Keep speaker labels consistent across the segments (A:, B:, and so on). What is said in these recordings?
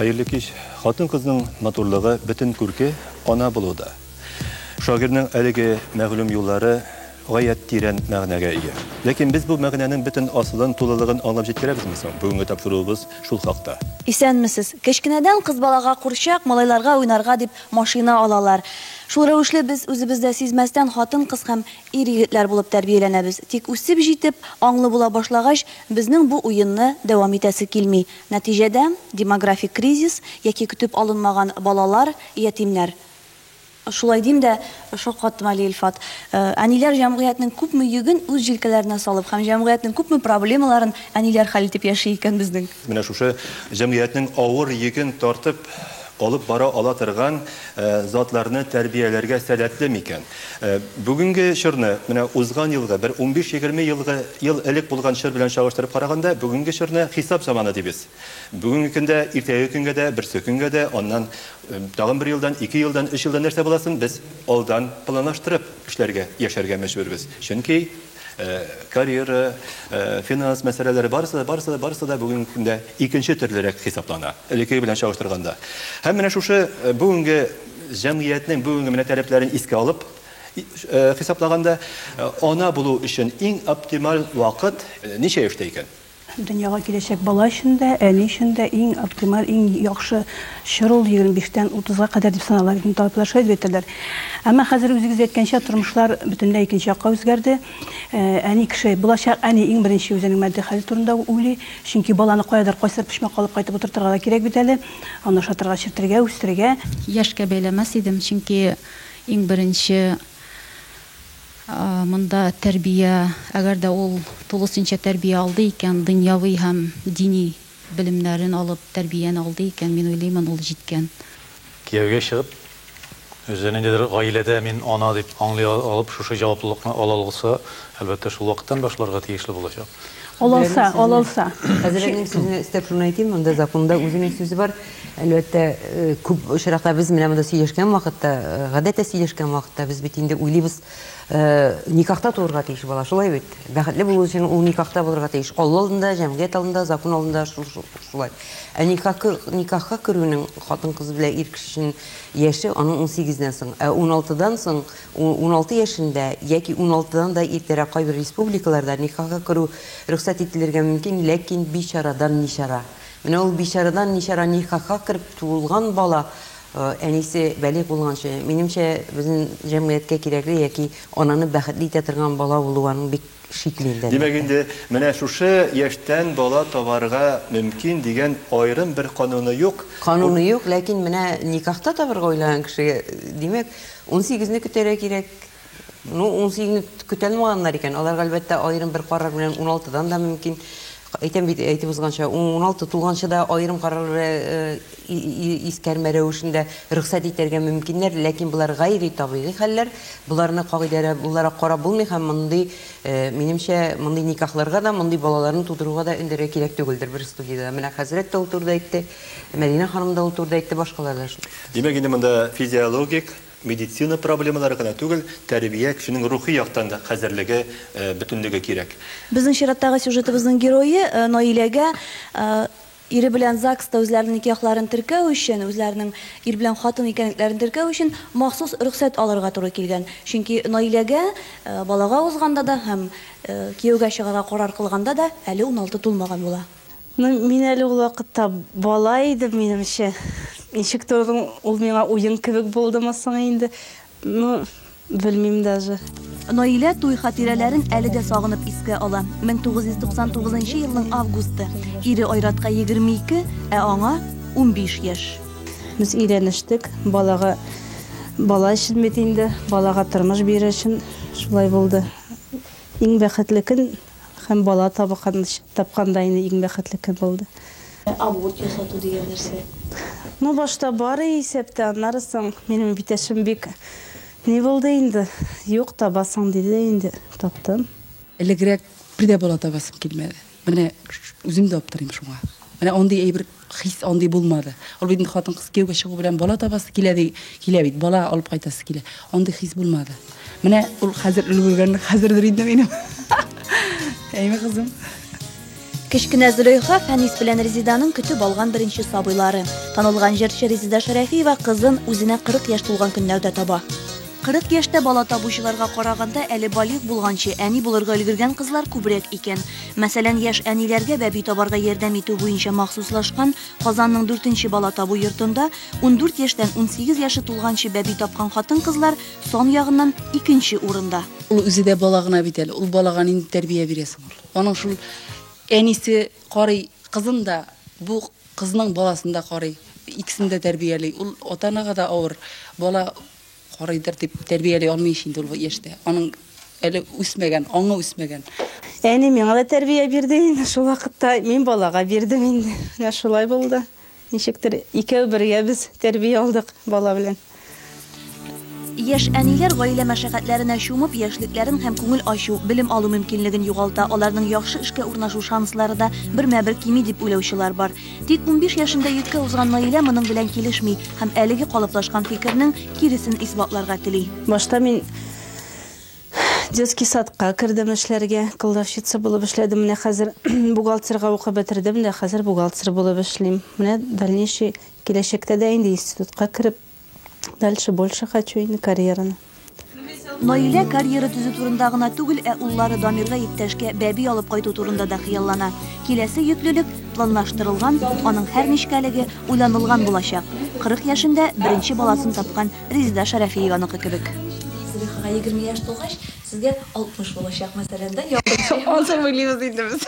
A: Хәерле кич. Хатын-кызның матурлыгы бөтен күрке ана булуда. Шагыйрьнең әлеге мәгълүм юллары Гаять тирән мәгънәгә ия. Ләкин без бу мәгънәнең бөтен асылын, тулылыгын аңлап җиткерәбезме соң? Бүгенге тапшыруыбыз шул хакта. Исәнмесез.
B: Кечкенәдән кыз балага курчак, малайларга уйнарга дип машина алалар. Шул рәвешле без үзебез дә сизмәстән хатын-кыз һәм ир-егетләр булып тәрбияләнәбез. Тик үсеп җитеп, аңлы була башлагач, безнең бу уенны дәвам итәсе килми. Нәтиҗәдә, демографик кризис яки көтеп алынмаган балалар, ятимнәр. Шулай дим дә, шаккаттым әле, Илфат. Әниләр җәмгыятьнең күпме йөген үз җилкәләренә салып һәм җәмгыятьнең күпме проблемаларын әниләр хәл итеп яши икән безнең. Менә шушы
A: җәмгыятьнең авыр йөген тартып алып бара ала торган затларны тәрбияләргә сәләтле микән? Бүгенге чорны, менә узган елгы, бер унбиш-егерме елгы ел элек булган чор белән чагыштырып караганда, бүгенге чорны хисап заманы дибез. Бүгенге көндә, иртәге көнгә дә, берсекөнгә дә, аннан Тагын бер елдан, ике елдан, өч елдан нәрсә буласын без алдан планлаштырып эшләргә, яшәргә мәҗбүрбез. Чөнки карьера, финанс мәсьәләләре барысы да, барысы да, барысы да бүгенге көндә икенче төрлерәк хисаплана, элеккеге белән чагыштырганда. Һәм менә шушы бүгенге җәмгыятьнең бүгенге менә таләпләрен искә алып хисаплаганда, ана булу өчен иң оптималь вакыт ничә яшьтә икән? Дөньяга киләчәк
C: бала өчен дә, әни өчен дә иң оптималь, иң яхшы чор ул 25 тән 30 га кадәр дип санала. Бит инде табиблар шулай дип әйтәләр. Әмма хәзер үзегез әйткәнчә, тормышлар бөтенләй икенче якка үзгәрде. Әни кеше, булачак әни иң беренче үзенең матди хәле турында уйлый. Чөнки баланы каядыр, кайсыдыр почмакка алып кайтып утыртырга да кирәк бит әле. Аны ашатырга, эчертергә, үстерергә. Яшькә бәйләмәс
D: идем, чөнки иң беренче Монда тәрбия, әгәр дә ул тулысынча тәрбия алды икән, дөньяви һәм дини белемнәрен алып, тәрбияне алды икән, мин уйлыймын, ул җиткән. Кияүгә
E: чыгып, үзе ниндидер гаиләдә мин ана дип аңлый алып, шушы җаваплылыкны ала алса, әлбәттә, шул вакыттан башларга тиешле булачак. Алалса, алалса.
C: Хәзер әнинең
F: сүзенә өстәп шуны әйтим, монда законда үзенең сүзе бар. Әлбәттә, күп очракта без менә монда сөйләшкән вакытта, гадәттә сөйләшкән вакытта без бит инде уйлыйбыз, никахта туырга тиеш бала, шулай бит. Бәхетле булу өчен ул никахта булырга тиеш. Алла алдында, җәмгыять алдында, закон алдында шулай. Ә никахка керүнең хатын-кыз белән ир кеше өчен яше аның 18 дән соң. Ә 16 дан соң, 16 яшендә яки 16 дан да иртәрәк кайбер республикаларда никахка керү рөхсәт ителергә мөмкин, ләкин бичарадан ничара. Менә ул бичарадан ничара никахка кереп туылган бала әнисе бәлигъ булганчы, минемчә, безнең җәмгыятькә кирәкле яки ананы бәхетле итә торган бала булуы аның бик шикле инде, әлбәттә. Димәк инде,
A: менә шушы яшьтән бала табарга мөмкин дигән аерым бер кануны юк. Кануны юк, ләкин
F: менә никахта табарга уйлаган кешегә, димәк, унсигезне көтәргә кирәк. Ну, унсигезне көтәлмаганнар икән, аларга, әлбәттә, аерым бер карар белән уналтыдан да мөмкин. Әйтәм бит, әйтеп узганча, уналты тулганчы да аерым карарлы искәрмә рәвешендә рөхсәт итәргә мөмкиннәр, ләкин болар гайри табигый хәлләр, боларны кагыйдәләр буларак карап булмый һәм мондый, минемчә, мондый никахларга да, мондый балаларны тудыруга да өндәргә кирәк түгелдер. Бер студиядә менә хәзрәт тә ул турыда әйтте, Мәдинә ханым да ул турыда әйтте, башкалар да шул. Димәк, инде монда
A: физиологик Медицина проблемалары гына түгел, тәрбия, кешенең рухи яктан да хәзерлеге, бөтенлеге кирәк. Безнең чираттагы
B: сюжетыбызның герое, Наиләгә, ире белән ЗАГСта үзләренең никяхларын теркәү өчен, үзләренең ир белән хатын икәнлекләрен теркәү өчен махсус рөхсәт алырга туры килгән. Чөнки Наиләгә балага узганда да һәм кияүгә чыгарга карар кылганда да әле уналты тулмаган була. Ну мин әле
C: ул вакытта бала идем, минемчә. Ничектер ул ул миңа уен кебек булдымы соң инде, ну, белмим даже. Наилә туй
B: хатирәләрен әле дә сагынып искә ала. 1999 елның августы. Ире Айратка 22, ә аңа 15 яшь. Без
C: өйрәнештек, балага бала өчен бит инде, балага тормыш бирер өчен шулай булды. Иң бәхетле көн Һәм бала тапканда инде иң бәхетле көн булды. Аборт
B: ясату дигән нәрсә? Ну, башта
C: бар и исәптә, аннары соң минем эбитәшем бик ни булды инде, Юк, табасың, диде дә инде таптым. Элегрәк
G: бер дә бала табасым килмәде. Менә үзем дә аптырыйм шуңа. Менә андый әйбер Хис андый булмады. Ул бит инде хатын-кыз кияүгә чыгу белән бала табасы килә ди, килә бит, бала алып кайтасы килә. Андый хис булмады. Менә ул хәзер өлгергән, хәзердер инде минем. Әйме кызым. Кечкенә
B: Зөләйха Фәнис белән Резиданың көтеп алган беренче сабыйлары. Танылган җырчы Резида Шәрәфиева кызын үзенә 40 яшь тулган көннәрдә таба. Кырык яшьтә бала табучыларга караганда, әле балигъ булганчы әни булырга өлгергән кызлар күбрәк икән. Мәсәлән, яшь әниләргә бәби табарга ярдәм итү буенча махсуслашкан Казанның дүртенче бала табу йортында ундүрт яшьтән унсигез яше тулганчы бәби тапкан хатын-кызлар сан ягыннан икенче урында. Ул үзе дә бала
G: гына бит әле, ул балага нинди тәрбия бирә соң ул? Аның шул әнисе карый, кызын да, бу кызның баласын да карый, икесен дә тәрбияли. Ул ата-анага да авыр, бала Карыйдыр дип тәрбияли алмый ич инде ул яшьтә. Аның әле үсмәгән, аңы үсмәгән. Әни миңа да
H: тәрбия бирде инде шул вакытта. Мин балага бирдем инде. Менә шулай булды. Ничектер икәү бергә без тәрбия алдык бала белән.
B: Яшь әниләр гаилә мәшәкатьләренә чумып, яшьлекләрен һәм күңел ачу, белем алу мөмкинлеген югалта, аларның яхшы эшкә урнашу шанслары да бермә-бер кими дип уйлаучылар бар. Тик унбиш яшендә йөккә узган Наилә моның белән килешми һәм әлеге калыплашкан фикернең киресен исбатларга тели. Башта мин
H: детский садка кердем эшләргә, кладовщица булып эшләдем, менә хәзер бухгалтерга укып бетердем дә, хәзер бухгалтер булып эшлим. Менә дальнейший киләчәктә дә инде институтка кереп, Дальше больше хочу инде карьераны. Наилә
B: карьера төзү турында гына түгел, ә уллары Дамирга иптәшкә бәби алып кайту турында да хыяллана. Киләсе йөклелек планлаштырылган, аның һәр нечкәлеге уйланылган булачак. 40 яшендә беренче баласын тапкан Резеда Шәрәфиеваныкы кебек. Зөлихага 20 яшь тулгач, сезгә 60 булачак, мәсәлән, да, якынча. Азыр уйлыйбыз
G: инде без.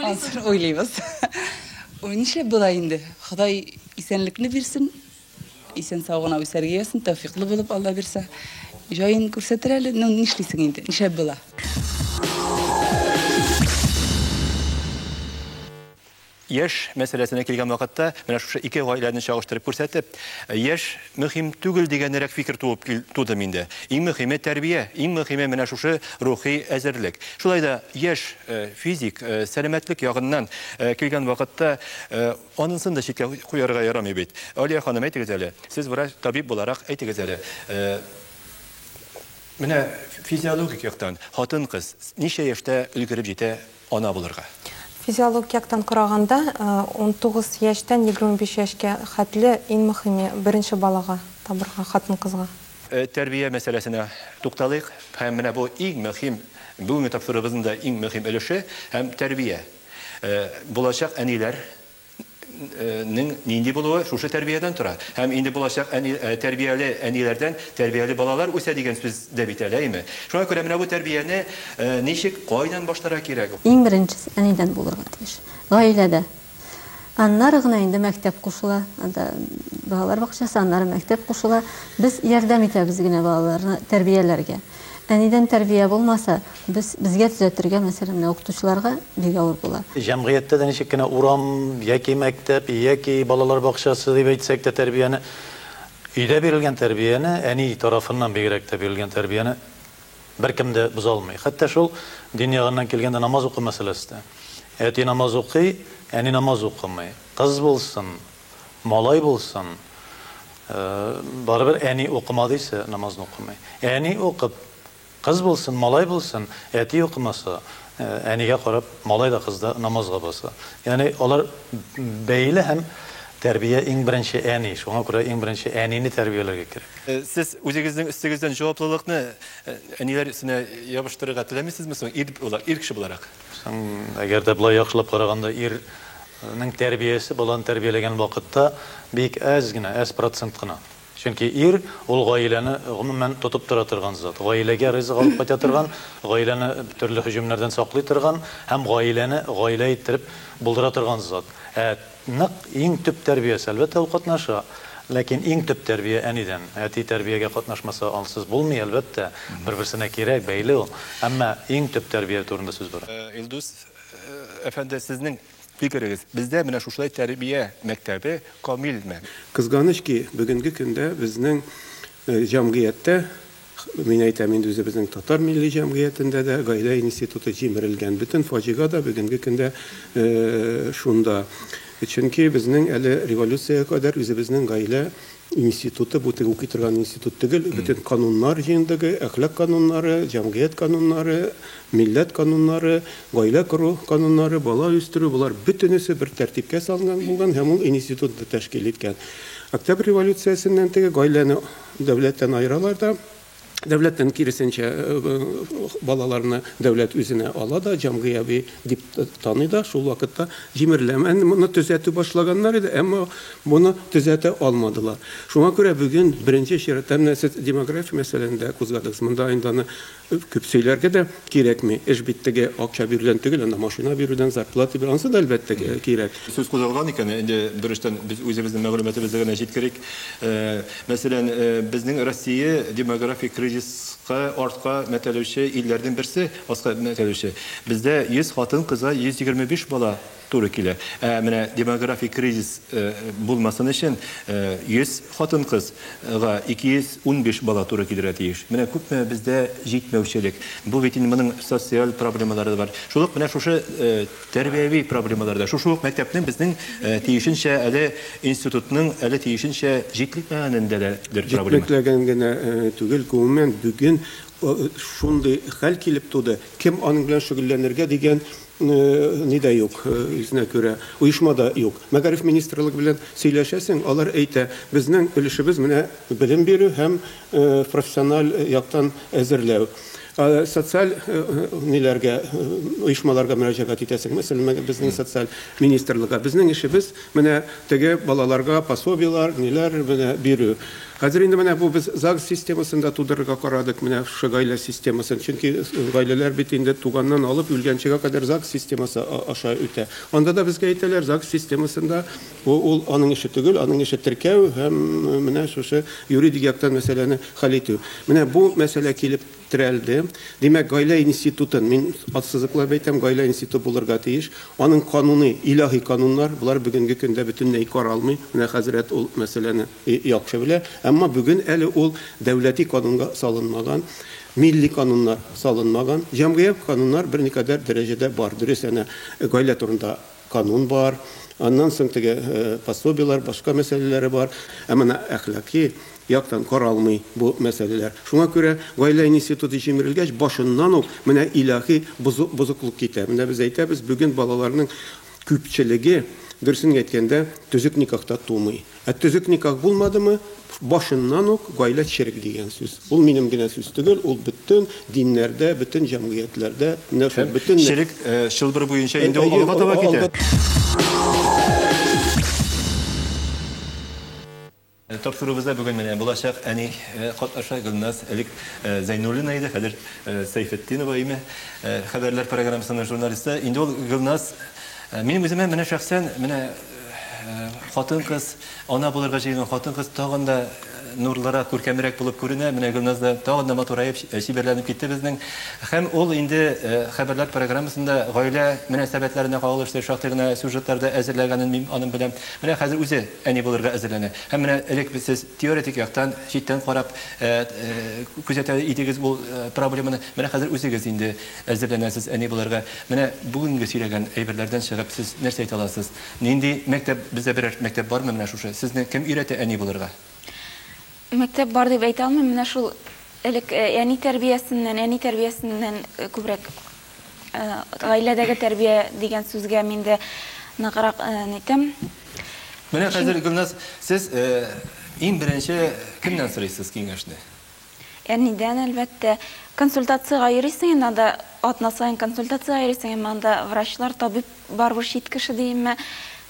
G: Азыр уйлыйбыз. Нишләп болай инде? Ходай Исәнлекле бирсен, исән сау гына үсәргә язсын, тәүфиклы булып Алла бирсә. Җаен күрсәтер әле, ну нишлисең инде, нишәп була.
A: Яшь мәсьәләсенә килгән вакытта, менә шушы ике гаиләне чагыштырып күрсәтеп, яшь мөһим түгел дигәнрәк фикер туып кил- туды миндә. Иң мөһиме тәрбия, иң мөһиме менә шушы рухи әзерлек. Шулай да яшь э, физик, э, сәламәтлек ягыннан э, килгән вакытта э, Анысын да читкә куярга ярамый бит. Алия ханым, әйтегез әле, сез врач, табиб буларак, әйтегез әле, менә физиологик яктан хатын-кыз ничә яшьтә өлгереп җитә ана булырга? Физиологик яктан
I: караганда, унтугыз яшьтән егерме биш яшькә хәтле иң мөхиме, беренче балага табырга хатын-кызга. Тәрбия
A: мәсьәләсенә тукталыйк. Һәм менә бу иң мөхим, бүгенге тапшыруыбызның да иң мөхим өлеше һәм тәрбия. Булачак әниләр нең нинди булуы шушы тәрбиядән тора. Һәм инде булачак әни, тәрбияле әниләрдән тәрбияле балалар үсә дигән сүз дә бит әле, әйме? Шуңа күрә менә бу тәрбияне ничек, кайдан башларга кирәк? Иң беренчесе әнидән
J: булырга тиеш. Гаиләдә. Аннары гына инде мәктәп кушыла. Анда балалар бакчасы, аннары мәктәп кушыла. Без ярдәм итәбез генә балаларны тәрбияләргә. Әнидән тәрбия булмаса, Без, безгә төзәтергә, мәсәлән, менә укытучыларга бик авыр була. Җәмгыятьтә дә ничек кенә
E: урам, яки мәктәп, яки балалар бакчасы дип әйтсәк тә, тәрбияне, өйдә бирелгән тәрбияне, әни тарафыннан бигрәк тә бирелгән тәрбияне беркем дә боза алмый. Хәтта шул дин ягыннан килгәндә намаз уку мәсьәләсе дә. Әти намаз укый, әни намаз укымый. Кыз булсын, малай булсын, барыбер әни укымадыйсы намазны укымый. Әни укып, Кыз булсын, малай булсын, әти укымаса, әнигә карап, малай да, кыз да намазга баса. Ягъни алар бәйле һәм тәрбия иң беренче әни, шуңа күрә иң беренче әнине тәрбияләргә кирәк. Сез үзегезнең
A: өстегездән җаваплылыкны әниләр өстенә ябыштырырга теләмисезме соң, ир буларак, ир кеше буларак? Соң, әгәр дә
E: болай яхшылап караганда, ирнең тәрбиясе баланы тәрбияләгән вакытта бик әз генә, әз процент кына. Чөнки ир, ул гаиләне, гомумән, тотып тора торган зат. Гаиләгә ризык алып кайта торган, гаиләне төрле һөҗүмнәрдән саклый торган һәм гаиләне гаилә иттереп булдыра торган зат. Ә нык, иң төп тәрбиясе, әлбәттә, ул катнаша. Ләкин иң төп тәрбия әнидән. Әти тәрбиягә катнашмаса, ансыз булмый, әлбәттә. Бер-берсенә кирәк, бәйле ул. Әмма иң төп тәрбия турында сүз бара. Илдус
A: әфәнде, сезнең Фикерегез, бездә менә шушылай тәрбия мәктәбе камилме? Кызганыч ки,
K: бүгенге көндә безнең җәмгыятьтә, мин әйтәм инде үзебезнең татар милли җәмгыятендә дә гаилә институты җимерелгән. Бөтен фаҗига да бүгенге көндә шунда. Чөнки безнең әле революциягә кадәр үзебезнең гаилә Институты, бу теге укый торган институт төгел, бөтен кануннар җыентыгы, әхлак кануннары, җәмгыять кануннары, милләт кануннары, гаилә кору кануннары, бала үстерү, болар бөтенесе бер тәртипкә салынган булган һәм ул институтны тәшкил иткән. Октябрь революциясеннән теге гаиләне дәүләттән аералар да, Дәүләттән, киресенчә, балаларны дәүләт үзенә ала да, җәмгыяви дип таный да, шул вакытта җимерелә. Әнде моны төзәтү башлаганнар иде, әмма моны төзәтә алмадылар. Шуңа күрә бүген беренче чиратта, менә сез демография мәсьәләләрен дә кузгадыгыз. Монда инде аны күп сөйләргә дә кирәкми. Эш бит теге акча бирүдән түгел, анда машина бирүдән, зарплата бирүдән, анысы да, әлбәттә, кирәк. Сүз кузгалган икән,
A: инде берочтан без үзебезнең мәгълүматыбызны гына җиткерик. Мәсәлән, безнең Россия демографик кризиска артка мәтәлүче илләрнең берсе, аска мәтәлүче. Бездә 100 хатын-кызга 125 бала туры килә. Ә менә демографик кризис булмасын өчен 100 хатын-кыз га 215 бала туры килергә тиеш. Менә күпме бездә җитмәүчелек. Бу бит инде моның социаль проблемалары да бар. Шул ук менә шушы Тәрбияви проблемалар да шушы ук мәктәпнең безнең тиешенчә әле институтның әле тиешенчә җитлекмәгәнендә дә дер проблема. Җитлекмәгән генә
K: түгел, гомумән бүген шундый хәл килеп туды, кем аның белән шөгыльләнергә дигән ни дә юк, үзенә күрә оешма да юк. Мәгариф министрлыгы белән сөйләшәсең, алар әйтә, безнең өлешебез менә белем бирү һәм профессиональ яктан әзерләү. Социаль ниләргә, оешмаларга мөрәҗәгать итәсең, мәсәлән, безнең социаль министрлыкка. Безнең эшебез менә теге балаларга пособиеләр, ниләр менә бирү. Хәзер инде менә бу без ЗАГС системасын да тудырырга карадык, менә шушы гаилә системасын. Чөнки гаиләләр бит инде туганнан алып үлгәнчегә кадәр ЗАГС системасы аша үтә. Анда да безгә әйтәләр, ЗАГС системасында Бу ул аның эше түгел, аның эше теркәү һәм менә шушы юридик яктан мәсьәләне хәл итү. Менә бу мәсьәлә килеп терәлде. Димәк, гаилә институтын, мин ассызыклап әйтәм, гаилә институты булырга тиеш. Аның кануный, илаһи кануннар, болар бүгенге көндә бөтенләй каралмый. Менә хәзрәт ул мәсьәләне яхшы белә. Әмма бүген әле ул дәүләти канунга салынмаган, милли кануннар салынмаган. Җәмгыять кануннар берникадәр дәрәҗәдә бар, дөрес, әнә гаилә турында Канун бар, аннан соң теге пособиеләр, башка мәсьәләләре бар. Ә менә әхлакый яктан каралмый бу мәсьәләләр. Шуңа күрә гаилә институты җимерелгәч, башыннан ук менә илаһи бозыклык китә. Менә без әйтәбез, бүген балаларның күпчелеге, дөресен генә әйткәндә, төзек никахта тумый. Ә төзек никах булмадымы, башыннан ук гаилә черек дигән сүз. Ул минем генә сүз түгел, ул бөтен диннәрдә, бөтен җәмгыятьләрдә, менә шул бөтен нәр. Черек чылбыр
A: буенча инде ул алга таба китә. Тапшыруыбызда бүген менә булачак әни катнаша, Гөлназ, элек Зәйнуллина иде, хәзер Сәйфетдинова, име, хәбәрләр программасының журналисты. Инде ул Гөлназ, минем үземә менә шәхсән, менә Хатын-кыз, ана булырга җыенган хатын-кыз тагын да нурлырак, күркәмрәк булып күренә. Менә Гөлназ да тагын да матураеп, чибәрләнеп китте безнең. Һәм ул инде Хәбәрләр программасында гаилә мөнәсәбәтләренә кагылышлы шактый гына сюжетлар да әзерләгәнен мин аның беләм. Менә хәзер үзе әни булырга әзерләнә. Һәм менә элек без сез теоретик яктан, читтән карап күзәтә идегез ул проблеманы. Менә хәзер үзегез инде. Әзерләнәсез әни булырга. Менә бүгенге сөйләгән әйберләрдән чыгып, сез нәрсә әйтә аласыз? Нинди мәктәп, бездә берәр мәктәп бармы менә шушы? Сезне кем өйрәтә әни булырга?
L: Мәктәп бар дип әйтә алмыйм, менә шул элек әни тәрбиясеннән, әни тәрбиясеннән күбрәк гаиләдәге тәрбия дигән сүзгә мин дә ныграк нитәм. Менә
A: хәзер, Гөлназ, сез иң беренче кемнән сорыйсыз киңәшне? Әнидән,
L: әлбәттә. Консультациягә йөрисең инде анда, атна саен консультациягә йөрисең, әмма анда врачлар, табиб барыбер чит кеше ди, әмма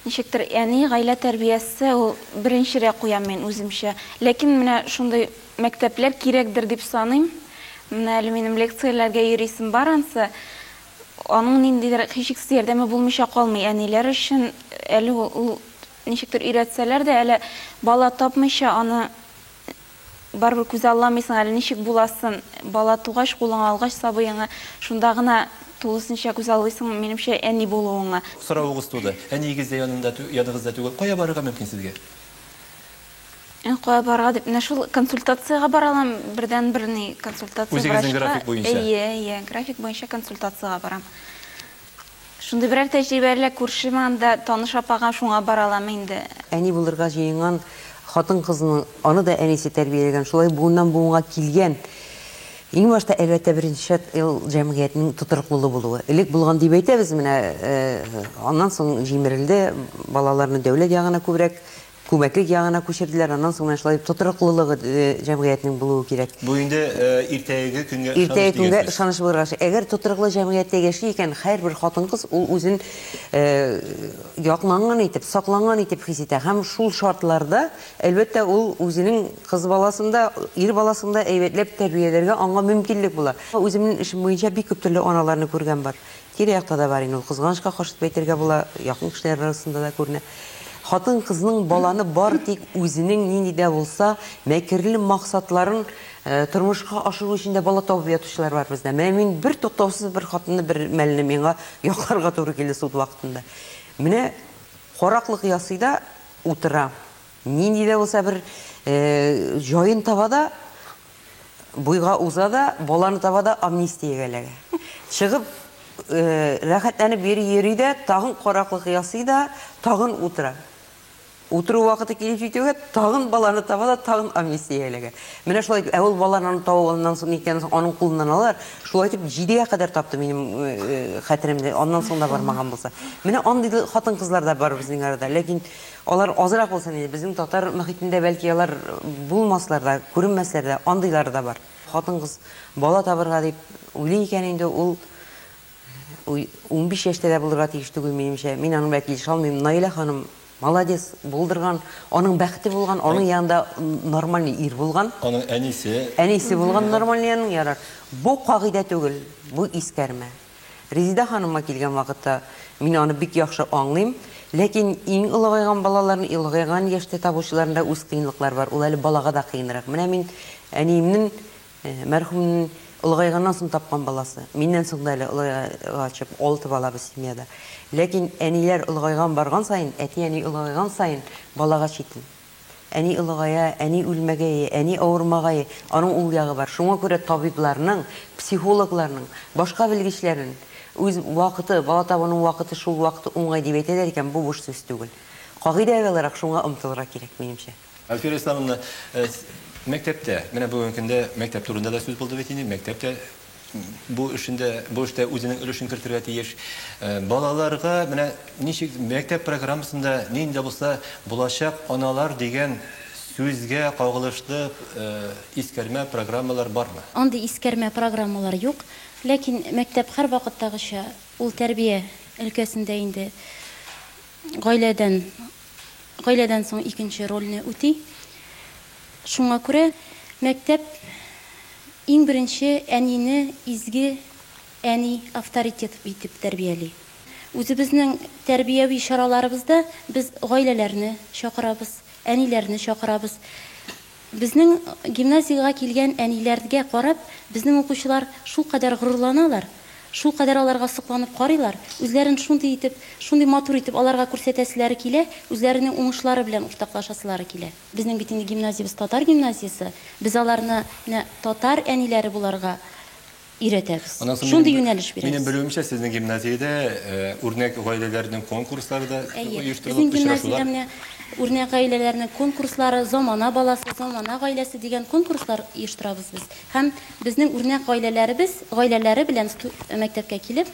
L: ничектер әни, гаилә тәрбиясе ул беренчерәк куям мин үземчә. Ләкин менә шундый мәктәпләр кирәкдер дип саныйм. Менә әле минем лекцияләргә йөрисем бар ансы. Аның ниндидер һичшиксез ярдәме булмыйча калмый әниләр өчен. Әле ул ничектер өйрәтсәләр дә, әле бала тапмыйча аны Барыбер күзалламыйсың әле, ничек буласын. Бала тугач, кулыңа алгач сабыеңа, шунда гына тулысынча күзаллыйсың, минемчә, әни булуыңа. Соравыгыз туды.
A: Әниегез дә янында, яныгызда түгел. Кая барырга мөмкин сезгә? Ә кая
L: барырга дип, менә шул консультациягә бара алам. Бердәнбер ни консультация врачка. Үзегезнең
A: график буенча? Әйе, әйе,
L: график буенча консультациягә барам. Шундый берәр тәҗрибә әллә күршеме анда, таныш апага, шуңа бара аламы инде? Әни булырга
F: җыенган хатын-кызның, аны да әнисе тәрбияләгән, шулай буыннан-буынга килгән. Иң башта, әлбәттә, беренче шарт, ил, җәмгыятьнең тотрыклылы булуы. Элек булган дип әйтәбез, менә аннан соң җимерелде, балаларны дәүләт ягына күбрәк Күмәклек ягына күчерделәр, аннан соң менә шулай тотрыклылыгы җәмгыятьнең булуы кирәк. Бу инде
A: иртәгеге көнгә ышаныч дигән сүз. Иртәгеге көнгә ышаныч
F: булырга тиеш. Әгәр тотрыклы җәмгыятьтә яши икән, һәрбер хатын-кыз ул үзен якланган итеп, сакланган итеп хис итә һәм шул шартларда, әлбәттә, ул үзенең кыз баласын да, ир баласын да әйбәтләп тәрбияләргә аңа мөмкинлек була. Үземнең эшем буенча бик күп төрле аналарны күргән бар. Тирә-якта да бар инде ул, кызганычка каршы дип әйтергә була, якын кешеләр арасында да күренә. Хатын-кызның баланы бары тик үзенең нинди дә булса мәкерле максатларын тормышка ашыру өчен дә бала табып ятучылар бар бездә. Менә мин бертуктаусыз бер хатынны бер мәлне миңа якларга туры килде суд вакытында. Менә караклык ясый да утыра. Нинди дә булса бер җаен таба да Буйга уза да, баланы таба да амнистиягә эләгә. Чыгып, рәхәтләнеп йөри-йөри дә, тагын караклык ясый да, тагын утыра. Утыру вакыты килеп җитүгә, тагын баланы таба да, тагын амнистиягә эләгә. Менә шулай итеп, ә ул баланы аны табып аннан соң икәннән соң аның кулыннан алалар. Шулай итеп, җидегә кадәр тапты минем хәтеремдә, аннан соң да бармаган булса. Менә андый хатын-кызлар да бар безнең арада. Ләкин Алар азрак булсын иде, безнең татар мохитендә бәлки алар булмаслар да, күренмәсләр дә, андыйлары да бар. Хатын-кыз бала табырга дип уйлый икән инде, ул унбиш яшьтә дә булырга тиеш түгел, минемчә. Мин аның белән килешә алмыйм. Наилә ханым молодец, булдырган, аның бәхете булган, аның янында нормальный ир булган. Аның әнисе.
A: Әнисе
F: булган нормальный аның, ярар. Бу кагыйдә түгел, бу искәрмә. Резидә ханымга килгән вакытта, мин аны бик яхшы аңлыйм. Ләкин иң олыгайган балаларны, олыгайган яшьтә табучыларны да үз кыенлыклары бар. Ул әле балага да кыенрак. Менә мин әниемнең, мәрхүмнең олыгайганнан соң тапкан баласы. Миннән соң да әле олыгайгачып, алты бала без семьяда. Ләкин әниләр олыгайган барган саен, әти-әни олыгайган саен балага читен. Әни олыгая, әни үлмәгәе, әни авырмагае, аның ул ягы бар. Шуңа күрә табибларның, психологларның, башка белгечләрнен үз вакыты, бала табуның вакыты шул вакыт уңай дип әйтәләр икән, бу буш сүз түгел. Кагыйдә аларак шуңа омтылырга кирәк, минемчә. Әлфирә Исламовна,
A: мәктәптә, менә бүгенге көндә мәктәп турында да сүз булды бит инде, мәктәп тә бу эшендә, бу эштә үзенең өлешен кертергә тиеш. Э, балаларга менә ничек мәктәп программасында нинди булса булачак аналар дигән сүзгә кагылышлы э, искәрмә программалар бармы? Андый искәрмә
D: программалар юк, ләкин мәктәп һәр вакыттагыча ул тәрбия өлкәсендә инде гаиләдән гаиләдән соң икенче рольне үти. Шуңа күрә мәктәп иң беренче әнине изге әни, авторитет итеп тәрбияли. Үзебезнең тәрбияви чараларыбызда без гаиләләрне чакырабыз, әниләрне чакырабыз. Безнең гимназиягә килгән әниләргә карап, безнең укучылар шулкадәр горурланалар, шулкадәр аларга сокланып карыйлар, үзләрен шундый итеп, шундый матур итеп аларга күрсәтәселәре килә, үзләренең уңышлары белән уртаклашасылары килә. Безнең бит инде гимназиябез татар гимназиясе, без аларны менә татар әниләре буларга өйрәтәбез. Аннан соң Шундый минем, юнәлеш бирәбез. Минем белүемчә, сезнең
A: гимназиядә үрнәк гаиләләрнең конкурслары да оештырылып, очрашулар. Әйе, безнең гимназиядә менә
D: үрнәк гаиләләрнең конкурслары, замана баласы, замана гаиләсе дигән конкурслар оештырабыз без. Һәм безнең үрнәк гаиләләребез, гаиләләре белән мәктәпкә килеп,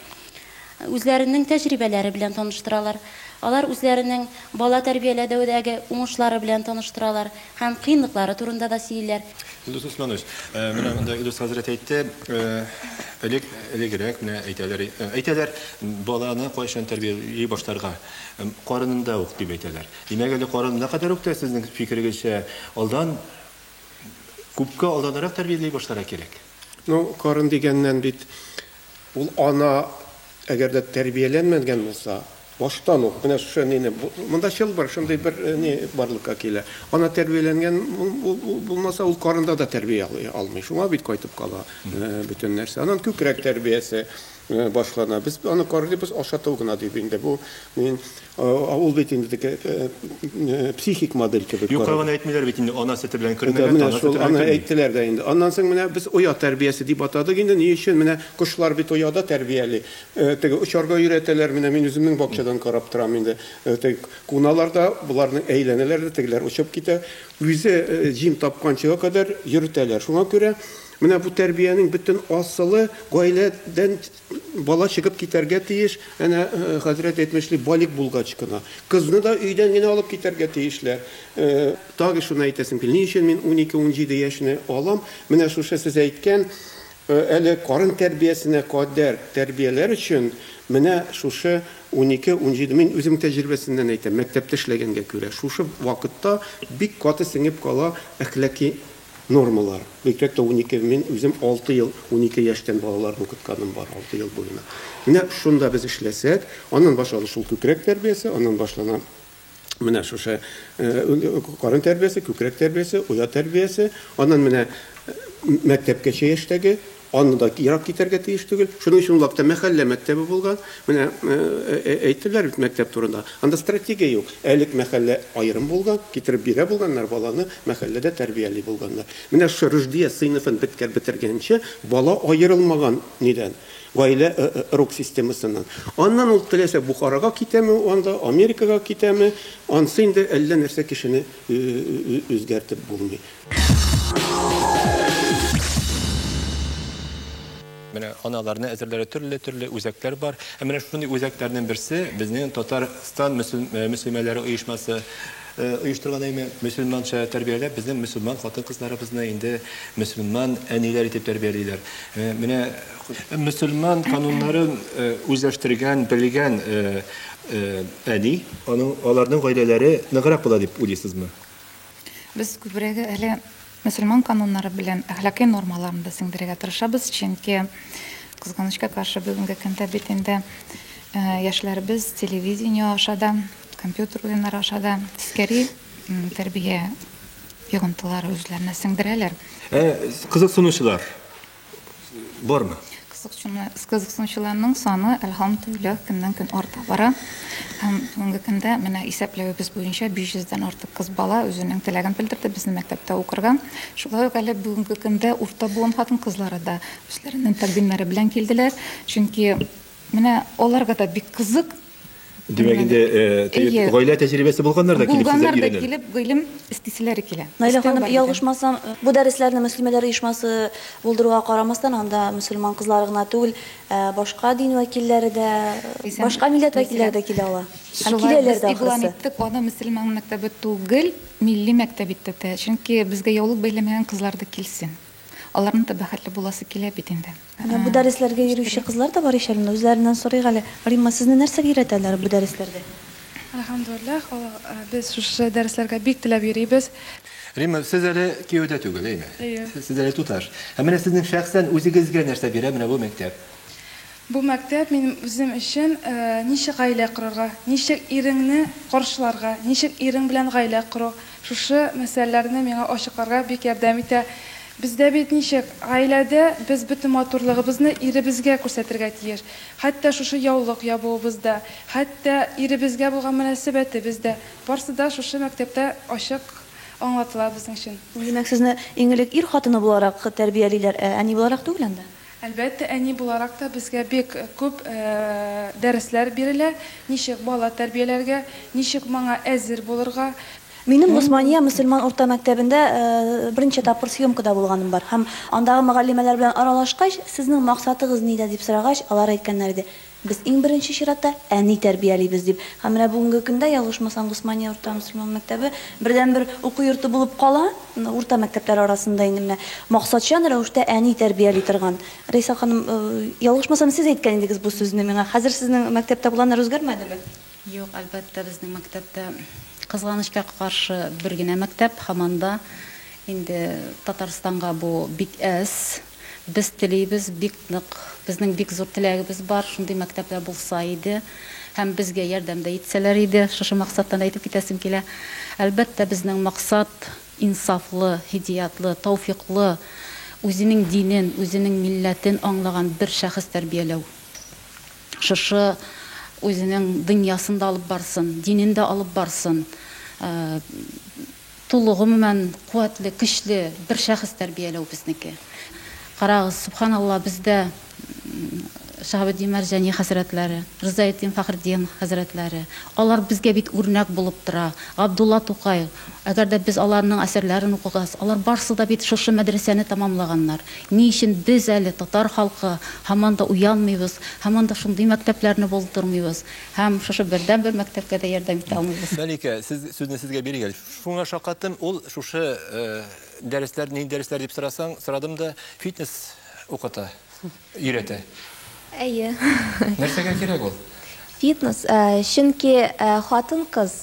D: үзләренең тәҗрибәләре белән таныштыралар, алар үзләренең бала тәрбияләдәүдәге уңышлары белән таныштыралар һәм кыенлыклары турында да сөйлиләр. Илдус Усманович,
A: менә монда Илдус хәзрәт әйтте, элек, элегрәк менә әйтәләр, әйтәләр, баланы кайчан тәрбияли башларга? Карынында ук, дип әйтәләр. Димәк, әле карынына кадәр үк тә, сезнең фикерегезчә, алдан, күпкә алданрак тәрбияли башларга кирәк? Ну, карын
K: дигәннән бит, Ул ана, әгәр дә тәрбияләнмәнгән булса, баштан ук, менә шушы әнине, монда чылбыр, шундый бер әни барлыкка килә. Ана тәрбияләнгән булмаса, ул карында да тәрбия алмый. Шуңа бит кайтып кала бөтен нәрсә. Аннан күкрәк тәрбиясе башлана. Без аны карыйбыз, ашату гына дип инде. Бу Мин ул бит инде теге психик модель кебек. Юк, калган әйтмиләр бит инде
A: ана сөте белән көлмәгән. Менә шул аны
K: әйттеләр
A: дә
K: инде. Аннан соң менә без оя тәрбиясе дип атадык инде. Ни өчен? Менә кошлар бит ояда тәрбияли. Теге очарга өйрәтәләр. Менә мин үземнең бакчадан карап торам инде. Теге куналар да, боларны әйләнәләр дә, тегеләр очып китә. Үзе җим тапканчыга кадәр йөртәләр. Шуңа күрә менә бу тәрбиянең бөтен асылы гаиләдән Бала чыгып китәргә тиеш, әнә хәзрәт әйтмешли, балигъ булгач кына. Кызны да өйдән генә алып китәргә тиешләр. Тагы шуны әйтәсем килә, ни өчен мин унике-унҗиде яшьне алам? Менә шушы сез әйткән, әле карын тәрбиясенә кадәр тәрбияләр өчен менә шушы унике-унҗиде, мин үзем тәҗрибәсеннән әйтәм, мәктәптә эшләгәнгә күрә, шушы вакытта бик каты сеңеп кала әхлаки Нормалар. Мәктәптә унике, мин үзем алты ел унике яшьтән балаларны укытканым бар, алты ел буена. Менә шунда без эшләсәк, аннан башланыр шул күкрәк тәрбиясе, аннан башлана менә шушы карын тәрбиясе, күкрәк тәрбиясе, оя тәрбиясе, аннан менә мәктәпкәчә яшьтәге Аны да ерак китәргә тиеш түгел. Шуның өчен ул вакытта мәхәллә мәктәбе булган. Менә әйттеләр бит мәктәп турында. Анда стратегия юк. Элек мәхәллә аерым булган, китереп бирә булганнар, баланы мәхәлләдә тәрбияли булганнар. Менә шушы Рөждия сыйныфын беткән бетергәнче бала аерылмаган нидән, гаилә рок системасыннан. Аннан ул теләсә Бухарага китәме, анда Америкага китәме, ансы инде әллә нәрсә кешене үзгәртеп булмый.
A: Менә аналарны әзерләре төрле-төрле үзәкләр бар. Ә менә шундый үзәкләрнең берсе безнең Татарстан мөслимәләре оешмасы оештырган әйме мөселманча тәрбияләп безнең мөселман хатын-кызларыбызны инде мөселман әниләр итеп тәрбиялиләр. Менә мөселман кануннарын үзләштергән, белгән әни, аның аларның гаиләләре ныграк була дип уйлыйсызмы? Без
M: күбрәге әле мөселман кануннары белән әхлакый нормаларын да сеңдерергә тырышабыз, чөнки кызганычка каршы бүгенге көндә бит инде э, яшьләребез телевидение аша да, компьютер уеннары аша да тискәри тәрбия йогынтылары үзләренә сеңдерәләр. Ә
A: кызыксынучылар бармы?
M: Кызыксынучыларның саны, әлхәмдүлилләһ, көннән-көн арта бара. Һәм бүгенге көндә менә исәпләвебез буенча 500 дән артык кыз бала үзенең теләген белдерде безнең мәктәптә укырга. Шулай ук әле бүгенге көндә урта буын хатын-кызлары да үзләренең тәкъдимнәре белән килделәр. Чөнки менә аларга да бик кызык Димәк инде
A: э, гаилә тәҗрибәсе булганнар да килеп сезгә өйрәнә. килеп гыйлем
M: истиселәре килә. Наилә ханым, ялгышмасам,
B: бу дәресләрне мөслимәләр оешмасы булдыруга карамастан, анда мөселман кызлары гына түгел, э, башка дин вәкилләре дә, башка милләт вәкилләре дә килә ала. Һәм киләләр дә ахрысы. Иттек, аны мөселман
M: мәктәбе түгел, милли мәктәп итте. Чөнки безгә яулык бәйләмәгән кызлар да килсен. Аларның да бәхетле буласы килә бит инде. Менә бу дәресләргә
B: йөрүче кызлар да бар ич әле, менә үзләреннән сорыйк әле. Римма, сезне нәрсәгә өйрәтәләр бу дәресләрдә? Әлхәмдүлилләһ,
N: Аллага, без шушы дәресләргә бик теләп йөрибез. Римма, сез
A: әле кияүдә түгел, әйме? Әйе. Сез әле туташ.
N: Ә
A: менә сезнең шәхсән үзегезгә нәрсә бирә менә бу мәктәп? Бу
N: мәктәп минем үзем өчен ничек гаилә корырга, ничек иреңне каршыларга, ничек ирең белән гаилә кору, шушы мәсьәләләрне миңа ачыкларга бик ярдәм итә. Бездә бит ничек, гаиләдә без бөтен матурлыгыбызны иребезгә күрсәтергә тиеш. Хәтта шушы яулык ябуыбыз да, хәтта иребезгә булган мөнәсәбәтебез дә, барсы да шушы мәктәптә ачык аңлатыла безнең өчен. Димәк, сезне иң
B: элек ир хатыны буларак тәрбиялиләр, ә әни буларак түгел анда? Әлбәттә, әни
N: буларак та безгә бик күп дәресләр бирелә, ничек бала тәрбияләргә, ничек моңа әзер булырга. Минем Госмания
B: мөселман урта мәктәбендә берничә тапкыр съемкада булганым бар һәм андагы мөгаллимәләр белән аралашкач, сезнең максатыгыз нидә дип сорагач, алар әйткәннәр иде, Без иң беренче чиратта әни тәрбиялибез, дип. Һәм менә бүгенге көндә, ялгышмасам, Госмания урта мөселман мәктәбе бердәнбер уку йорты булып кала, урта мәктәпләр арасында инде менә максатчан рәвештә әни тәрбияли торган. Рәйсә ханым, ялгышмасам, сез әйткән идегез бу сүзне миңа. Хәзер сезнең мәктәптә планнар үзгәрмәдеме? Юк, әлбәттә,
D: безнең мәктәптә, кызганычка каршы, бер генә мәктәп, һаман да инде Татарстанга бу бик әз. Без телибез бик нык, безнең бик зур теләгебез бар, шундый мәктәпләр булса иде һәм безгә ярдәм дә итсәләр иде, шушы максаттан әйтеп китәсем килә. Әлбәттә, безнең максат, инсафлы, һидиятлы, тәүфикълы, үзенең динен, үзенең милләтен аңлаган бер шәхес тәрбияләү. Шушы үзенең дөньясын да алып барсын, динен дә алып барсын. Тулы, гомумән, куәтле, көчле бер шәхес тәрбияләү безнеке. Карагыз, Сөбханалла, бездә Шаһабетдин Мәрҗани хәзрәтләре, Ризаэддин Фәхретдин хәзрәтләре, алар безгә бит үрнәк булып тора. Габдулла Тукай, әгәр дә без аларның әсәрләрен укыгас, алар барысы да бит шушы мәдрәсәне тәмамлаганнар. Ни өчен без әле, татар халкы, һаман да уянмыйбыз, һаман да шундый мәктәпләрне булдырмыйбыз? Һәм шушы бердәм бер мәктәпкә дә ярдәм итә алмыйбыз. Мәликә, сез сүзне
A: сезгә бирик әле. Шуңа шаккаттым, ул шушы дәресләр, нинди дәресләр дип сорасаң, сорадым да, фитнес укыта, өйрәтә. Әйе.
O: Нәрсәгә
A: кирәк ул? Фитнес,
O: чөнки хатын-кыз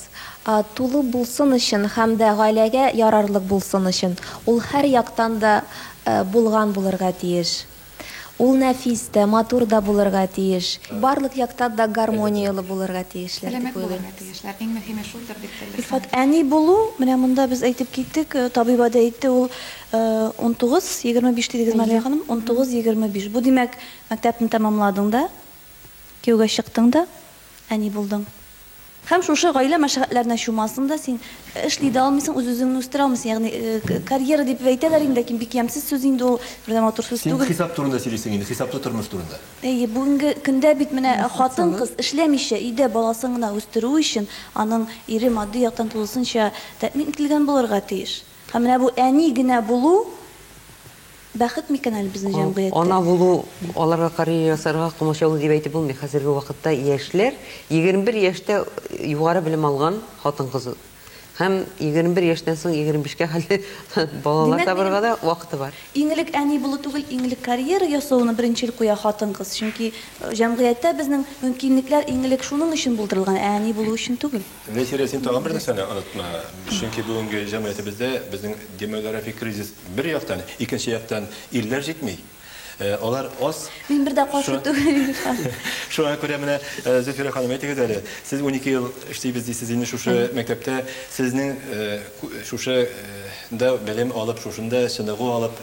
O: тулы булсын өчен һәм дә гаиләгә ярарлык булсын өчен, ул һәр яктан да булган булырга тиеш. Ул нәфис тә, матур да булырга тиеш. Барлык яктан да гармонияле булырга тиешләр дип уйлыйм. Сәламәт булырга тиешләр, иң мөһиме
M: шулдыр дип белдек. Илфат, әни булу,
B: менә монда без әйтеп киттек, табиба да әйтте, ул унтугыз, егерме биш дидегез, Мария ханым, унтугыз, егерме биш. Бу, димәк, мәктәпне тәмамладың да, кияүгә чыктың да, Әни булдың. Һәм шушы гаилә мәшәкатьләренә чумасың да син, эшли дә алмыйсың, үз-үзеңне үстерә алмыйсың. Ягъни, карьера дип әйтәләр инде, ләкин бик ямьсез сүз инде ул, бер дә матур сүз түгел. Син хисап турында сөйлисең инде,
A: хисаплы тормыш турында. Әйе, бүгенге
B: көндә бит менә хатын-кыз эшләмичә, өйдә баласын гына үстерү өчен, аның ире матди яктан тулысынча тәэмин ителгән булырга тиеш. Һәм менә бу әни генә булу, Бәхет микән әле безнең җәмгыятьтә? Ана булу,
F: аларга карьера ясарга комачаулы дип әйтеп булмый. Хәзерге вакытта яшьләр, егерме бер яшьтә югары белем алган хатын-кыз һәм егерме бер яшьтән соң егерме бишкә хәтле балалар табарга да вакыты бар. Иң элек әни булу
B: түгел, иң элек карьера ясауны беренчел куя хатын-кыз. Чөнки җәмгыятьтә безнең мөмкинлекләр иң элек шуның өчен булдырылган, ә әни булу өчен түгел. Нәсирә, син тагын бер
A: нәрсәне онытма. Чөнки бүгенге җәмгыятебездә безнең демографик кризис бер яктан, икенче яктан ирләр җитми. Э, алар аз. Мин бер дә каршы
B: түгел, Илхан. Шуңа күрә
A: менә э, Зөфирә ханым әйтегез әле, сез 12 ел эшлибез дисез инде шушы мәктәптә, сезнең э, шушы да белем алып, шушында чыныгу алып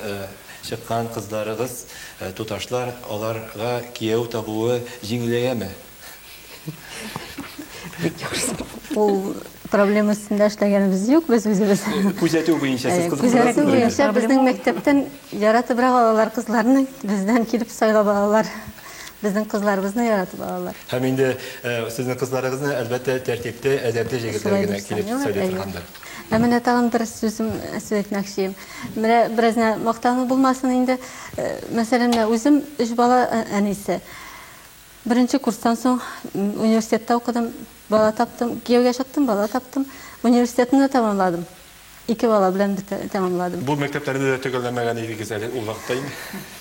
A: чыккан кызларыгыз, туташлар, аларга кияү табуы җиңеләяме?
J: Ул проблема өстендә эшләгәнебез юк, без үзебез. Күзәтү буенча сез
A: кызык. Күзәтү буенча
J: безнең мәктәптән яратып алалар кызларны, бездән килеп сайлап алалар. Безнең кызларыбызны яратып алалар. Һәм инде
A: сезнең кызларыгызны әлбәттә тәртипле, әдәпле җегетләр генә килеп сайлый торгандыр. Ә менә тагын бер
J: сүзем сүз әйтмәкче. Менә бераз мактану булмасын инде. Мәсәлән, үзем өч бала әнисе. Беренче курстан соң университетта укыдым, бала таптым. Кияүгә чыктым, бала таптым. Университетны да тәмамладым. Ике бала белән тәмамладым. Бу мәктәпләрне дә
A: төгәлләмәгән идегез әле ул вакытта инде.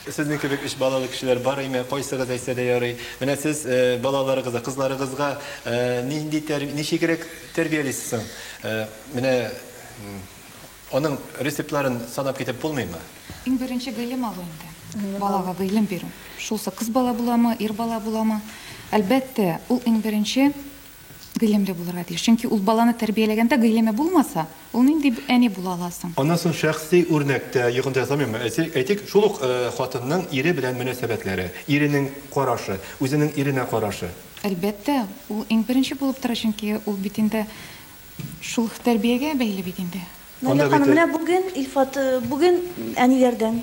A: Сезнең кебек өч балалы кешеләр бар име? Кайсыгыз әйтсә дә ярый. Менә сез балаларыгызга, кызларыгызга нинди, ничегрәк тәрбиялисез соң? Менә Аның рецептларын санап китеп булмыймы? Иң беренче гыйлем
M: алу инде. Балага гыйлем бирү. Шулсы кыз бала буламы, ир бала буламы? Әлбәттә, ул иң беренче гыйлемле булырга тиеш. Чөнки ул баланы тәрбияләгәндә гыйлеме булмаса, ул нинди әни була ала соң? Аннан соң шәхси
A: үрнәктә, йогынты ясамыймы, әйтик, шул ук хатынның ире белән мөнәсәбәтләре, иренең карашы, үзенең иренә карашы. Әлбәттә,
M: ул иң беренче булып тора, чөнки ул бит инде Шул тәрбиягә бәйле бит инде. Наилә ханым, менә бүген
B: Илфат, бүген әниләрдән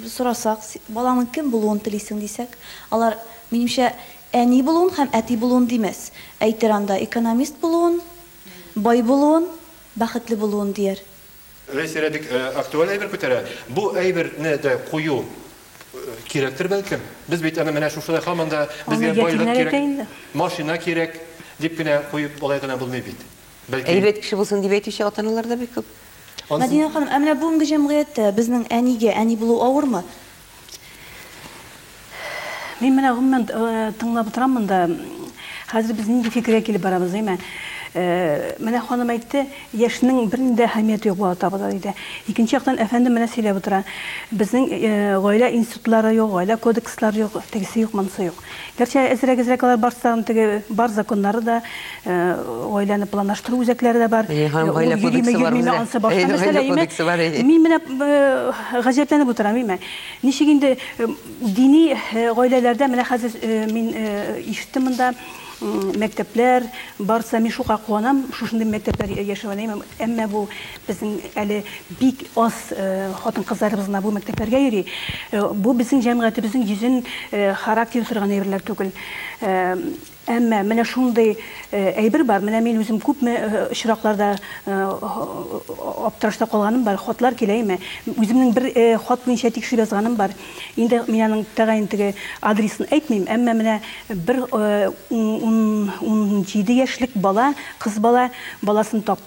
B: сорасак, балаңның кем булуын телисең дисәк, алар, минемчә, әни булуын һәм әти булуын димәс, әйтер анда, экономист булуын, бай булуын, бәхетле булуын дияр. Рәйсәрә бик
A: актуаль әйбер күтәрә. Бу әйберне дә кую кирәктер бәлкем. Без бит аны менә шушыда һаман да безгә байлык кирәк, машина кирәк дип кенә куеп болай гына булмый бит. Бәлки. Әйбәт кеше
F: булсын дип әйтүче ата-аналар да бик күп. Мәдинә ханым,
B: ә менә бүгенге җәмгыятьтә безнең әнигә әни булу авырмы?
C: Мин менә гомумән э, тыңлап утырам монда. Хәзер без нинди фикергә килеп барабыз, әйме? Э, менә ханым әйтте, яшьнең бер нинди әһәмияте юк бала табуда диде. Икенче яктан әфәнде менә сөйләп утыра. Безнең э, гаилә институтлары юк, гаилә кодекслары юк, тегесе юк, монысы юк. Гәрчә әзрәк-әзрәк алар барсы да, аны теге бар законнары да, гаиләне планлаштыру үзәкләре дә бар. Әйе, һәм гаилә кодексы
F: бар бездә. Ансы башка мәсьәлә име? Мин менә
C: гаҗәпләнеп утырам име. Ничек инде дини гаиләләрдә менә хәзер мин ишеттем монда, мәктәпләр барса, мин шука куанам, шушындый мәктәпләр яшәвенә, әмма бу Безнең әле бик аз хатын-кызларыбыз гына бу мәктәпләргә йөри. Бу безнең җәмгыятебезнең йөзен харап итә торган әйберләр түгел. Әмма менә шундый әйбер бар, менә мин үзем күпме очракларда аптырашта калганым бар, хатлар киләме? Үземнең бер хат буенча тикшереп язганым бар. Инде мин аның тәгаен теге адресын әйтмим, әмма менә бер унҗиде яшьлек бала, кыз бала баласын тапты.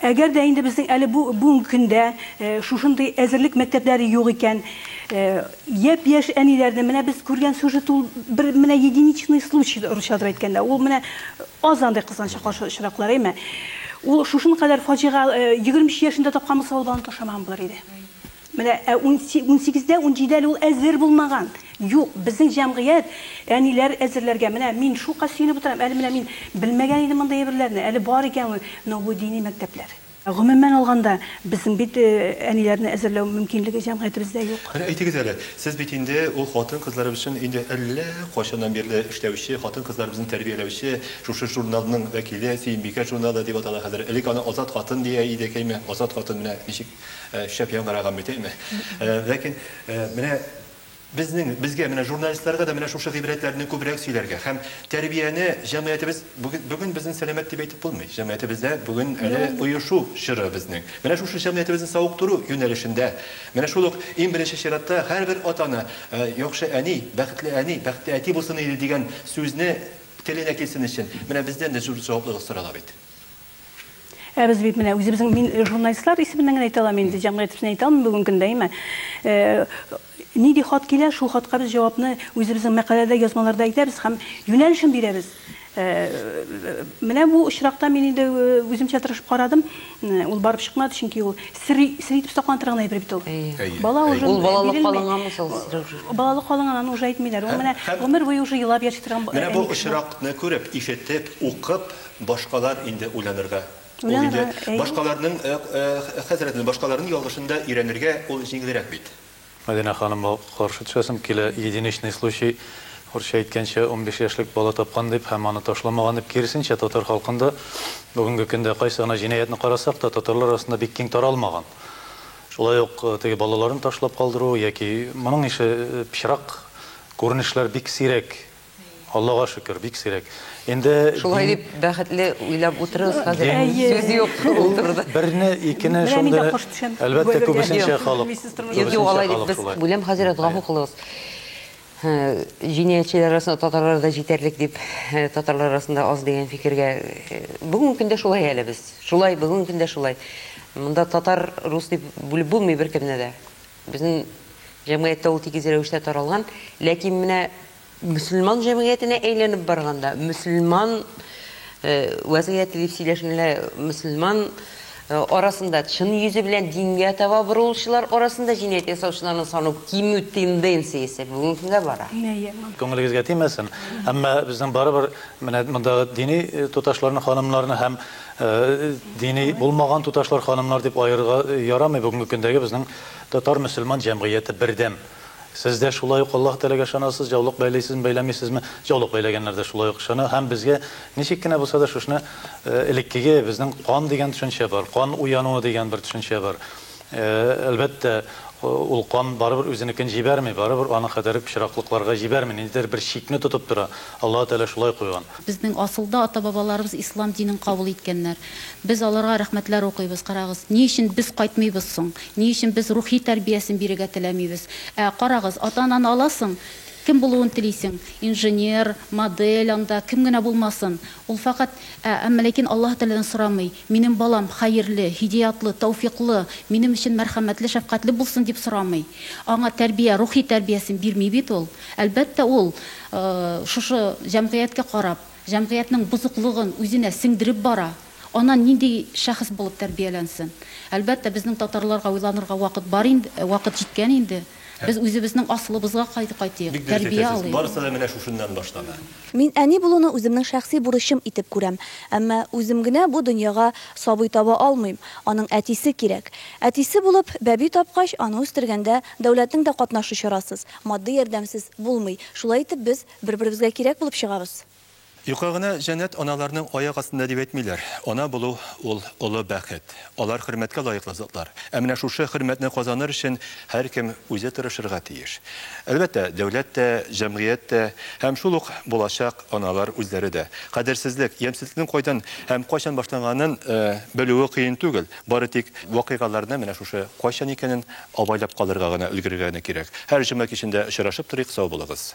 C: Әгәр дә инде безнең әле бу бүгенге көндә шушындый әзерлек мәктәпләре юк икән, япь-яшь әниләрне менә без күргән сюжет ул бер менә единичный случай, русча дыр әйткәндә, ул менә аз андый кызганычка каршы очраклар, әйме? Ул шушын кадәр фаҗига, егерме өч яшендә тапкан булса, ул баланы ташламаган булыр иде. Менә ә унсигездә, унҗидә әле ул әзер булмаган. Юк, безнең җәмгыять, әниләр әзерләргә, менә мин шука сөенеп утырам, әле менә мин белмәгән идем мондый әйберләрне, әле бар икән ул, но бу дини мәктәпләр. Гомумән алганда, безнең бит әниләрне әзерләү мөмкинлеге җәмгыятебездә юк. Менә әйтегез әле, сез
A: бит инде ул хатын-кызларыбыз өчен инде әллә кайчаннан бирле эшләүче, хатын-кызларыбызны тәрбияләүче шушы журналның вәкиле, Сөембикә журналы дип атала хәзер, элек аны Азат хатын дия идекәйме, Азат хатын менә ничек. Шәп яңгыраган бит, әйме? Ләкин менә безнең, безгә, менә журналистларга да менә шушы гыйбрәтләрне күбрәк сөйләргә һәм тәрбияне җәмгыятебез бүген, бүген безнең сәламәт дип әйтеп булмый. Җәмгыятебездә бүген әле оешу чоры безнең. Менә шушы җәмгыятебезне савыктыру юнәлешендә, менә шул ук иң беренче чиратта һәрбер атаны яхшы әни, бәхетле әни, бәхетле әти булсын иде дигән сүзне теленә килсен өчен менә бездән дә зур җаваплылык сорала бит.
C: Ә без бит менә үзебезнең мин э, журналистлар исеменнән генә әйтә алам инде, җәмгыять исеменнән әйтә алмыйм бүгенге көндә, әйме? Э, нинди хат килә, шул хатка без җавапны үзебезнең мәкаләдә, язмаларда әйтәбез һәм юнәлешен бирәбез. Э, менә бу очракта мин инде үземчә тырышып карадым, ул барып чыкмады, чөнки ул сер сер итеп саклана торган әйбер бит ул. Бала уже ул балалык калынган
F: ул балалык калынган,
C: аны уже әйтмиләр. Ул менә гомер буе уже елап яши торган. Менә бу очракны
A: күреп, ишетеп, укып, Башкалар инде уйланырга. Ул инде башкаларның хәзрәтне, башкаларның ялгышын да өйрәнергә ул җиңелрәк бит. Мәдинә ханымга
E: каршы төшәсем килә. Единичный случай, урысча әйткәнчә, унбиш яшьлек бала тапкан дип һәм аны ташламаган дип, киресенчә, татар халкында бүгенге көндә кайсы гына җинаятьне карасак та, татарлар арасында бик киң таралмаган. Шулай ук теге балаларын ташлап калдыру яки моның ише пычрак күренешләр бик сирәк. Аллага шөкер, бик сирәк. Инде Шулай дип бәхетле
F: уйлап утырыгыз хәзер. Сүз юк шул турыда. Берне, икене
E: шундый. Әлбәттә, күбесенчә халык. Юк, юк, алай дип
F: без бүләм хәзер гафу кылыгыз. Җинаятьчеләр арасында татарлар да җитәрлек дип, татарлар арасында аз дигән фикергә. Бүгенге көндә шулай әле без. Шулай, бүгенге көндә шулай. Монда татар, рус дип бүлеп булмый беркемне дә. Безнең җәмгыятьтә ул тигез рәвештә таралган, ләкин менә мөселман җәмгыятенә әйләнеп барганда, мөселман э, вәзгыяте дип сөйләшенгәндә, мөселман э, арасында чын йөзе белән дингә таба борылучылар арасында җинаять ясаучыларның саны кимү тенденциясе бүгенге көнгә бара. Күңелегезгә
E: тимәсен, әмма безнең барыбер менә мондагы дини э, туташларны, ханымнарны һәм Дини булмаган туташлар, ханымнар дип аерырга ярамый, бүгенге көндәге безнең татар-мөселман җәмгыяте бердәм. Сез дә шулай ук Аллаһ Тәгаләгә ышанасыз, җаулык бәйлисезме, бәйләмисезме, җаулык бәйләгәннәр дә шулай ук ышана һәм безгә ничек кенә булса да шушны элеккеге безнең кан дигән төшенчә бар, кан уянуы дигән бер төшенчә бар. Әлбәттә, ул кан барыбер үзенекен җибәрми, барыбер аның кадәр пычраклыкларга җибәрми, ниндидер бер чикне тотып тора, Аллаһы Тәгалә шулай куйган. Безнең асылда
D: ата-бабаларыбыз ислам динен кабул иткәннәр. Без аларга рәхмәтләр укыйбыз. Карагыз, ни өчен без кайтмыйбыз соң? Ни өчен без рухи тәрбиясен бирергә теләмибез? Ә, карагыз, ата-ананы аласың, кем булуын телисең? Инженер, модель анда, кем генә булмасын. Ул фәкать, ә, әмма ләкин Аллаһ Тәгаләдән сорамый, Минем балам хәерле, һидеятлы, тәүфикълы, минем өчен мәрхәмәтле, шәфкатьле булсын, дип сорамый. Аңа тәрбия, рухи тәрбиясен бирми бит ул. Әлбәттә, ул, ы, шушы җәмгыятькә карап, җәмгыятьнең бозыклыгын үзенә сеңдереп бара. Аннан нинди шәхес булып тәрбияләнсен? Әлбәттә, безнең татарларга уйланырга вакыт бар инде, вакыт җиткән инде. Без үзебезнең асылыбызга кайтыйк, Бик дөрес тәрбия әйтәсез, алыйк. барысы да менә шушыннан
A: башлана. Мин әни булуны
B: үземнең шәхси бурычым итеп күрәм. Әмма үзем генә бу дөньяга сабый таба алмыйм, аның әтисе кирәк. Әтисе булып, бәби тапкач, аны үстергәндә дәүләтнең дә катнашы чарасыз, матди ярдәмсез булмый. Шулай итеп без бер-беребезгә кирәк булып чыгабыз. Юкка гына
A: җәннәт аналарның аяк астында дип әйтмиләр. Ана булу, ул, олы бәхет. Алар хөрмәткә лаеклы затлар. Ә менә шушы хөрмәтне казаныр өчен һәркем үзе тырышырга тиеш. Әлбәттә, дәүләт тә, җәмгыять тә һәм шул ук булачак аналар үзләре дә. Кадерсезлек, ямьсезлекнең кайдан һәм кайчан башланганын белүе кыен түгел, бары тик вакыйгаларны менә шушы кайчан икәнен абайлап калырга гына өлгерергә генә кирәк. Һәр җома кичендә очрашып торыйк, сау булыгыз!